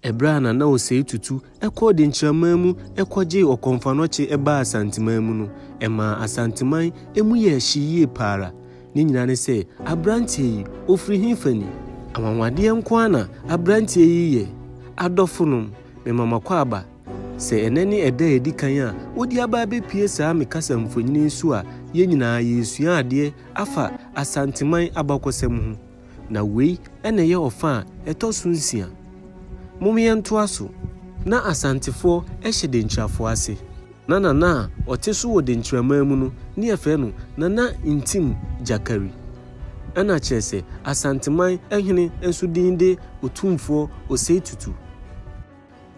Ɛberɛ a Nana Osei Tutu kɔɔ Denkyiraman mu kɔgyee Ɔkɔmfanɔkye baa Asanteman mu no, ɛmaa Asanteman mu yɛɛ hye yie pa ara. Ne nyinaa ne sɛ, aberanteɛ yi, ɔfiri hefa ni? Anwanwadeɛ nko ara na aberanteɛ yi yɛ. Adɔfonom, mema mo akwaaba. Sɛ ɛnnɛ ne ɛda a ɛdi kan a wode aba abɛpue saa me kasamfonin yi so a, yɛn nyinaa yɛresua adeɛ afa Asanteman abakɔsɛm ho. Na wei na ɛyɛ ɔfa a ɛtɔ so nsia. Mom yɛntoa so. Na Asantefoɔ hyɛ Denkyirafoɔ ase. Na Nana a ɔte so wɔ Denkyiraman mu no ne yɛfrɛ no Nana Ntim Gyakari. Ɛna kyerɛ sɛ Asanteman hene nso din de Otumfoɔ Osei Tutu.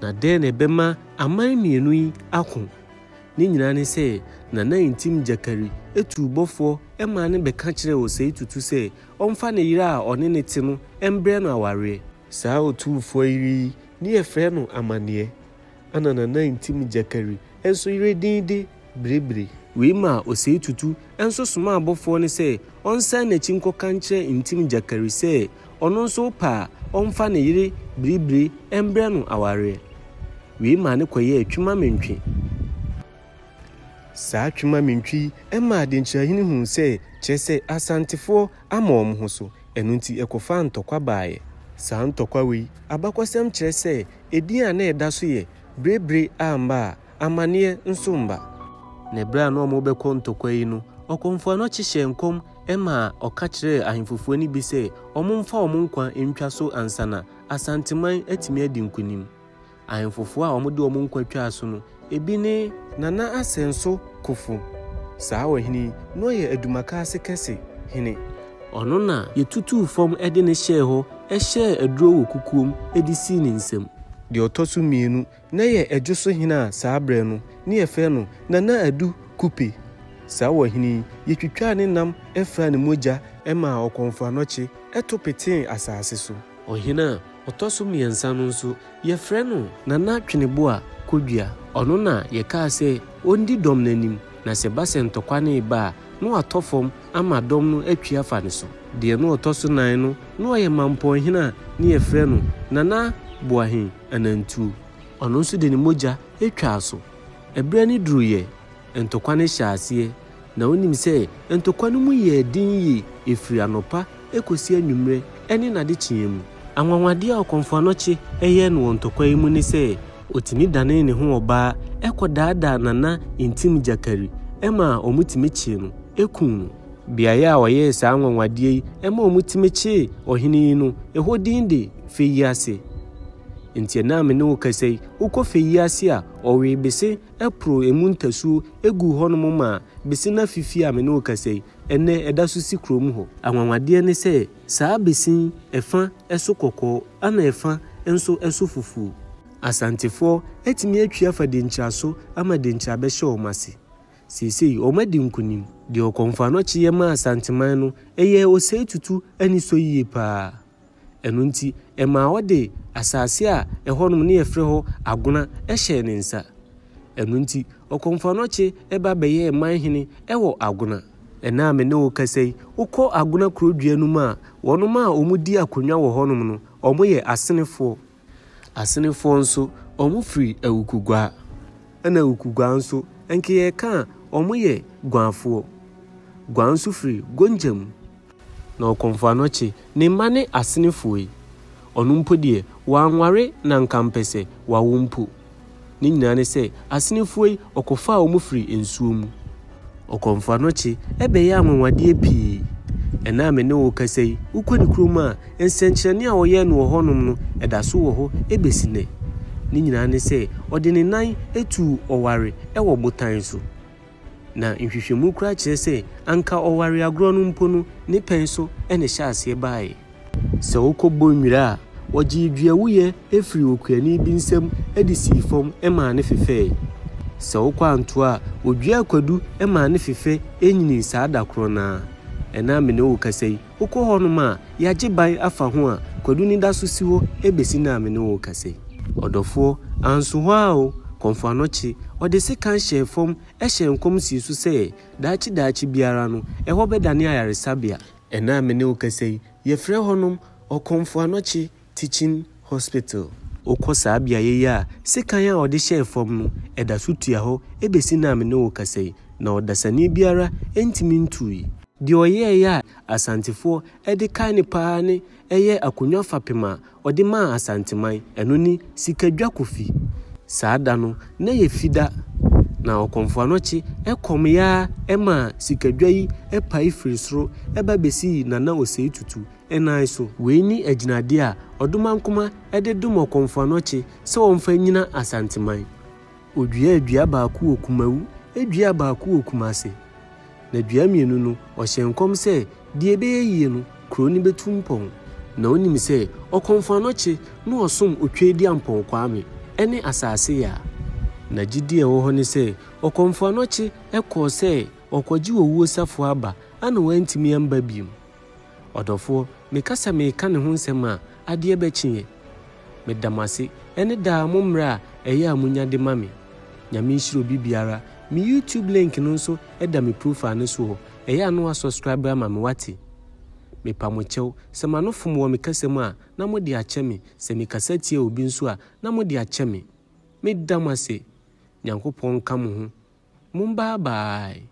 Na dɛn na ɛbɛma aman mmienu yi ako? Ne nyinaa ne sɛ Nana Ntim Gyakari tuu bɔfoɔ maa no bɛka kyerɛɛ Osei Tutu sɛ ɔmfa ne yere a ɔne no te no mbrɛ no awareɛ. Saa otumfoɔ yere yi ne yɛfrɛ no Amaneɛ, ana na na ntim Gyakari nso yere din de Birebire. Wei maa Osei Tutu nso somaa abɔfoɔ no sɛ ɔnsan n'akyi nkɔka nkyerɛ ntim Gyakari sɛ ɔno nso ɔpɛ a ɔmfa ne yere Birebire mbrɛ no awareɛ. Wei maa no kɔyɛɛ Twema Mentwe. Saa Twemamintwi yi maa Adenkyirahene huu sɛ kyerɛ sɛ Asantefoɔ ama wɔn ho so, ɛno nti ɛkɔfaa ntɔkwa baeɛ. Saa ntɔkwa wei, abakɔsɛm kyerɛ sɛ edin a na ɛda so yɛ Brebire amma a, amanneɛ nso mma. Na ɛberɛ a na wɔrebɛkɔ ntɔkwa yi no, ɔkɔmfoa no kye hyɛɛ nkɔm maa ɔka kyerɛɛ ahemfofoɔ no bi sɛ wɔmfa wɔn nkwa ntwa so ansa na Asanteman atumi adi nkonim. Ahemfofo a wɔde wɔn nkwa twaa so no, ebi ne. Nana Asenso Kofo. Saa ɔhene yi, na ɔyɛ Adumaka ase kɛse hene. Ɔno na yɛtutuu fam de no hyɛɛ hɔ hyɛɛ aduro wɔ kukuom de sii ne nsam. Deɛ ɔtɔ so mmienu, na ɛyɛ Adwo so hene a saa berɛ no, na yɛfrɛ no Nana Adu Kupe. Saa ɔhene yi, yɛtwitwaa ne nam fraa ne mogya. Ɛmaa ɔkɔmfoanɔkye to petee asase so. Ɔhene a Ɔtɔ so mmiɛnsa no nso, yɛfrɛ no. Nana Tweneboa Kodua. Ɔno na yɛkaa sɛ ɔndi dɔm no anim, na sɛ ɛba sɛ ntɔkwa no reba a, na watɔ fam ama dɔm no atwi afa ne so. Deɛ na ɔtɔ so nan no, na ɔyɛ Mampɔnhene a na yɛfrɛ no Nana Boahen Anantuo. Ɔno nso de ne mogya twaa so. Ɛberɛ no duruiɛ Ntokwa no hyɛ aseɛ, na wonim sɛ ntokwa no mu yɛɛ den yie ɛfiri anɔpa kɔsi anwummerɛ ɛne n'adekyeɛ mu. Anwanwadeɛ a Ɔkɔmfoanɔkye yɛɛ no wɔ ntokwa yi mu ne sɛ ɔtumi danee ne ho ɔbaa kɔdaadaa Nana Ntim Gyakari ma wɔtumi kyee no kuu no. Beaeɛ a ɔyɛɛ saa anwanwadeɛ yi ma wɔtumi kyee ɔhene yi no, ɛhɔ din de Feyiase. Enti ɛnnɛ a me ne wo kasa yi, wokɔ Feyiase a, ɔwee bese poroo emu ntasuo guu hɔnom maa besin afe fie a me ne wo kasa yi, ɛnnɛ ɛda so si kurom hɔ. Anwanwadeɛ ne sɛ, saa besin yi, ɛfa so kɔkɔɔ ɛna ɛfa nso so fufuo. Asantefoɔ atumi atwi afa Denkyira so ama Denkyira bɛhyɛ wɔn ase. Seesei wɔn adi nkunim. Deɛ Ɔkɔmfoano kyeeɛ maa Asanteman no, ɛyɛɛ ɔsɛetutu anisɔ yie pa ara. Ɛno nti, ɛmaa ɔde asase a ɛhɔnom na yɛfrɛ hɔ Agona hyɛɛ ne nsa. Ɛno nti, Ɔkomfoanɔkye ba bɛyɛɛ man hene wɔ Agona. Ɛnnɛ a me ne wo rekasa yi, wokɔ Agona kurodua no mu a, wɔnom a wɔdi akonnwa wɔ hɔnom no, wɔyɛ Asenefoɔ. Asenefoɔ nso, wɔfiri Awukuguaa. Ɛna Awukuguaa nso, ɛnke yɛka a, wɔyɛ Guaafoɔ. Guaa nso firi Gonja mu. Na Ɔkɔmfo Anɔkye, ne mma ne Asenefoɔ yi, ɔno mpo deɛ, wannware na nka mpɛ sɛ wawo mpo. Ne nyinaa ne sɛ, asenefoɔ yi, ɔkɔfaa wɔn firii nsuo mu. Ɔkɔ mfoano kye, ɛbɛyɛ anwanwadeɛ pii. Ɛnnɛ a me ne wo rekasa yi, wokɔ ne kurom a, nsɛnkyerɛnne a ɔyɛɛ no wɔ hɔnom no, ɛda so wɔ hɔ bɛsi nnɛ. Ne nyinaa ne sɛ, ɔde ne nan tuu ɔware wɔ botan so. Na nhwehwɛmu koraa kyerɛ sɛ anka ɔware agorɔ no mpo no, ne pɛn so na ɛhyɛɛ aseɛ baeɛ. Sɛ wokɔ Bonnwira a, wɔgyee duawuiɛ firii okuani bi nsam de sii fam maa no fefɛɛe. Sɛ wokɔ Antoa a, wɔduaa kwadu maa no fefɛ nyinii saa da korɔ no ara. Ɛnnɛ a me ne wo rekasa yi, Wokɔ hɔnom a, yɛagye ban afa ho a, Kwadu no da so si hɔ besi nnɛ a me ne wo rekasa yi. Ɔdɔfoɔ, anso hɔ ara o, Kɔmfoano kye, ɔde sekan hyɛɛ fam hyɛɛ nkɔm sii so sɛ, daakye daakye biara no, ɛhɔ bɛdane ayaresabea. Ɛnnɛ a me ne wo rekasa yi, yɛfrɛ hɔnom, Ɔkɔmfoano kye, Teaching Hospital. Wokɔ saa beaeɛ yi a, sekan a wɔde hyɛɛ fam no, ɛda so tua hɔ bɛsi nnɛ a me ne wo kasa yi, na ɔdasani biara ntumi ntuui. Deɛ ɔyɛeɛ a Asantefoɔ de kae no pa ara ne ɛyɛ akonnwa fapem a ɔde maa Asanteman, ɛno ne Sikadwa Kofi. Saa da no, na yɛ Fida, na Ɔkɔmfoɔ Anɔkye kɔm yɛ ara maa sikadwa yi pae firii soro ba bɛsii Nana Osei Tutu nan so. Wei ne agyinadeɛ a Ɔdomankoma de dom Ɔkomfoanɔkye sɛ ɔmfa nnyina Asanteman. Ɔduaa dua baako wɔ Kumawu, duaa baako wɔ Kumase. Na dua mmienu no, ɔhyɛɛ nkɔm sɛ deɛ ɛbɛyɛ yie no, kuro no bɛtu mpɔn. Na ɔnim sɛ Ɔkomfoanɔkye na ɔsom Otwaadi Ampɔn Kwame ne Asase Yaa. Na gyidie a ɛwɔ hɔ ne sɛ Ɔkomfoanɔkye kɔɔ sɛ ɔrekɔgye owuo safoa aba a na wantumi amba bio. Ɔdɔfoɔ, meka sɛ mereka ne ho nsɛm a, adeɛ bɛkyeɛ. Meda mo ase ɛne daa mo mmerɛ a ɛyɛ a monya de ma me. Nyame nhyira obi biara. Me YouTube link no nso da me profile no soɔ, ɛyɛ a na wa subscribe ama me wate. Mepa mo kyɛw, sɛ m'ano fom wɔ me kasa mu a, na mo de akyɛ me, sɛ me kasa tia obi nso a, na mo de akyɛ me. Meda mo ase. Nyankopɔn nka mo ho. Mo bye bye.